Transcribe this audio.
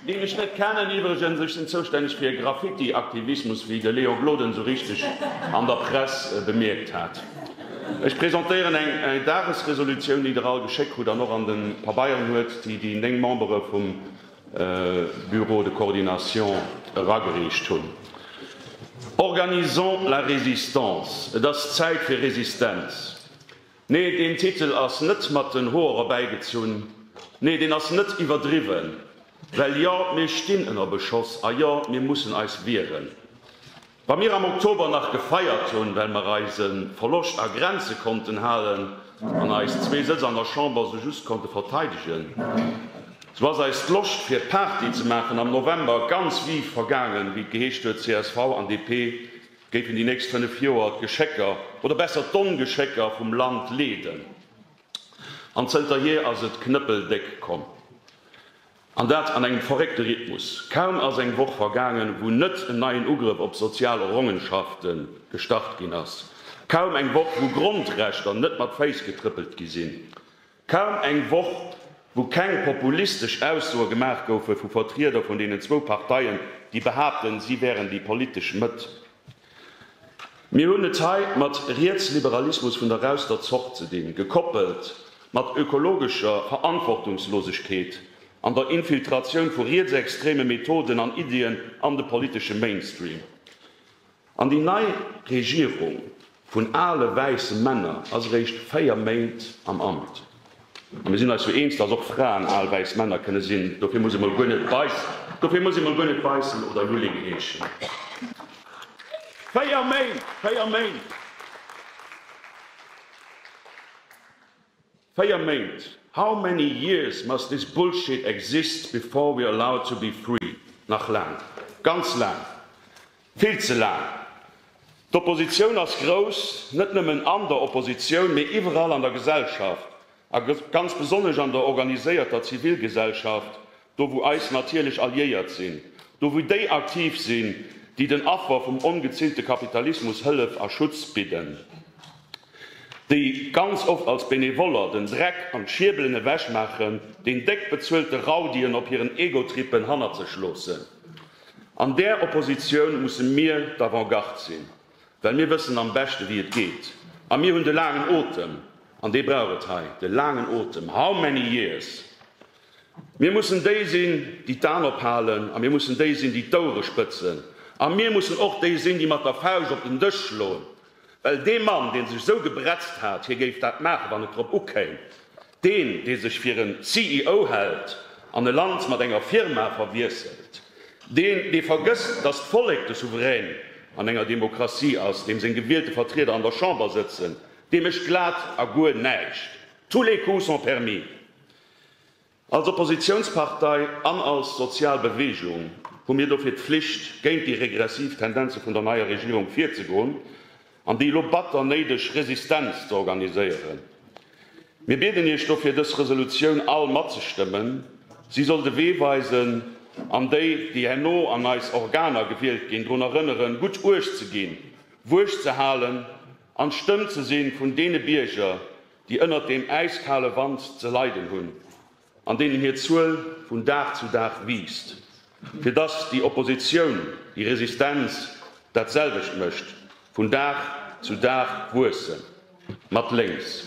Deen ech net kennen iwwregens. Ech sinn zoustänneg fir e Graffiti-Aktivismus, wéi de Léo Gloden esou richteg an der Press bemierkt hat. Ech presentéieren eng Dagesresolutioun, déi Der all geschéck krut an och an de Pabeieren huet, déi déi néng Membere vum Bureau de coordination eragereecht hunn. Organisons la résistance! Et ass Zäit fir Resistenz! Nee, deen Titel ass net mat den Hoer erbäigezunn. Nee, deen ass net iwwerdriwwen. Well jo, mir stinn ënner Beschoss a jo, mir mussen eis wieren. Wa mir am Oktober nach gefeiert hunn, well mer eise Verloscht a Grenze konnten halen an eis zwee Sëtz an der Chamber sou just konnte verteidegen, sou ass eis d'Loscht fir Party ze maachen am November ganz vive vergaangen, wéi et geheescht huet, csv an DP géifen déi nächst 5 Joer d'Geschécker, oder besser d'Ongeschécker vum Land leeden. An zënterhier ass et knëppeldéck komm. An dat an engem verréckte Rhythmus. Kaum ass eng Woch vergaangen, wou net en neien Ugrëff op sozial Errongenschafte gestart ginn ass. Kaum eng Woch, wou Grondrechter net mat Féiss getrëppelt gi sinn. Kaum eng Woch, wou keng populistesch Aussoe gemaach goufe vu Vertrieder vun deenen zwou Parteien, déi behaapten, si wären déi politesch Mëtt. Mir hunn et hei mat Rietsliberalismus vun der rauster Zort ze dinn, gekoppelt mat ökologescher Verantwortungslosegkeet an der Infiltratioun vu rietsextreme Methoden an Iddien an de politesche Mainstream. An déi nei Regierung vun ale wäisse Männer ass eréischt 4 Méint am Amt. A mir sinn eis jo eens, dass och Fraen al wäiss Männer kënne sinn. Dofir muss ee mol guer net Weissen oder Lulling heeschen. 4 Méint! 4 Méint! Véier Méint, how many years must this bullshit exist before we're allowed to be free? Nach laang, ganz laang, vill ze laang. D'Oppositioun ass grouss, net nëmmen an der Oppositioun, mee iwwerall an der Gesellschaft, a ganz besonnesch an der organiséierter Zivilgesellschaft, Do wou eis natierlech Alliéiert sinn, do wou déi aktiv sinn, déi den Affer vum ongezillte Kapitalismus Hëllef a Schutz bidden, déi ganz oft als Benevoller den Dreck an d'Schiebelen ewech maachen, deen déck bezuelte Raudien op hiren Egotrippen hannert sech loossen. An där Oppositioun musse mir d'Avant-garde sinn, well mir wëssen am beschte wéi et geet. A mir hunn de laangen Otem, an dee brauch et hei, de laangen Otem, how many years? Mir mussen déi sinn, déi d'An ophalen, a mir mussen déi sinn, déi d'Ouere spëtzen. A mir mussen och déi sinn, déi mat der Fauscht op den Dësch schloen. Well dee Mann, deen sech esou gebretzt hat, hie géif dat maachen, wann et drop ukéim, deen, dee sech fir en CEO hält an e Land mat enger Firma verwiesselt, deen, dee vergësst, datt d'Vollek de Souverän an enger Demokratie ass, deem seng gewielte Vertrieder an der Chamber sëtzen, dee mécht glat a guer näischt. Tous les coups sont permis! Als Oppositiounspartei an als sozial Beweegung hu mir dofir d'Flicht, géint déi regressiv Tendenze vun der neier Regierung virzegoen an déi elo batter néideg Resistenz ze organiséieren. Mir bieden Iech dofir, dës Resolutioun all matzestëmmen. Si soll de Wee weisen an déi, déi herno an eis Organer gewielt ginn, drun erënneren, gutt uecht ze ginn, Wuecht ze halen an d'Stëmm ze si vun deene Bierger, déi ënnert deem äiskale Wand ze leiden hunn, an deenen hir Zuel vun Dag zu Dag wiisst, fir dass déi Oppositioun, déi Resistenz dat selwecht mécht, vun Dag zu Dag wuessen, mat lénks.